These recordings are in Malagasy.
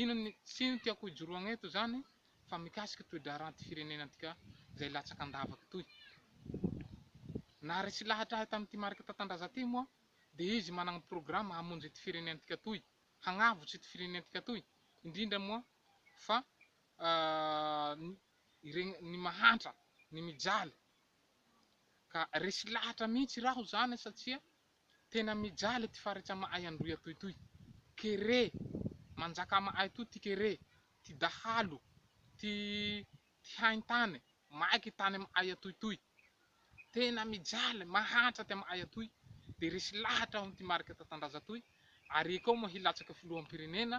Ino ny tsy ino tiako ijoroagna eto zany fa mikasiky toe-draharahan'ty firenena antika zay latsaka an-davaka toy. Na resy lahatra ahy tamin'ity Marc Tatandraza ty moa de izy managna programme hamonjy ity firenentika toy, hagnavotsy ity firenentika toy, indrindra moa fa ny iregny ny mahantra, ny mijaly. Ka resy lahatra mihitsy raho zany satsia Tena mijaly ity faritra amahay androy atoy itoy kere manjaka amahay atoy ty kere ty dahalo ty ty haintany maiky tany amahay atoy itoy tena mijaly mahantra ty amahay atoy de resy lahatra aho ty marika tatandraza toy ary ekao moa hilatsaka filoham-pirenena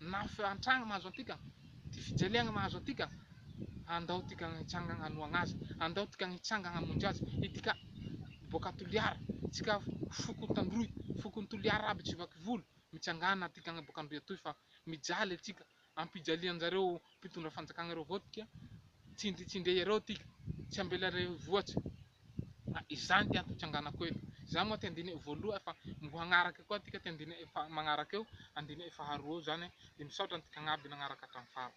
Na fiantrana mahazo antika, ty fijaliana mahazo antika, andao tika hitsangana hanohana azy, andao tika hitsangana hamonjy azy, itika boaka Toliara, tsika foko Tandroy, fokon Toliara aby Tsivakivolo, mitsangana tika boaka Androy atoy fa mijaly atsika, ampijalianjareo mpitondra fanjakana ireo voadika, tsindri tsindreo ireo tika, tsy ambela ireo voatso, fa izany ty antony tsanganako eto, izany moa ty andininy voaloha fa mbo hanaraka koa tika ty andininy magnaraka eo, andininy faharoa eo izany, dia misaotra antika agnaby nagnaraka hatramin'ny farany.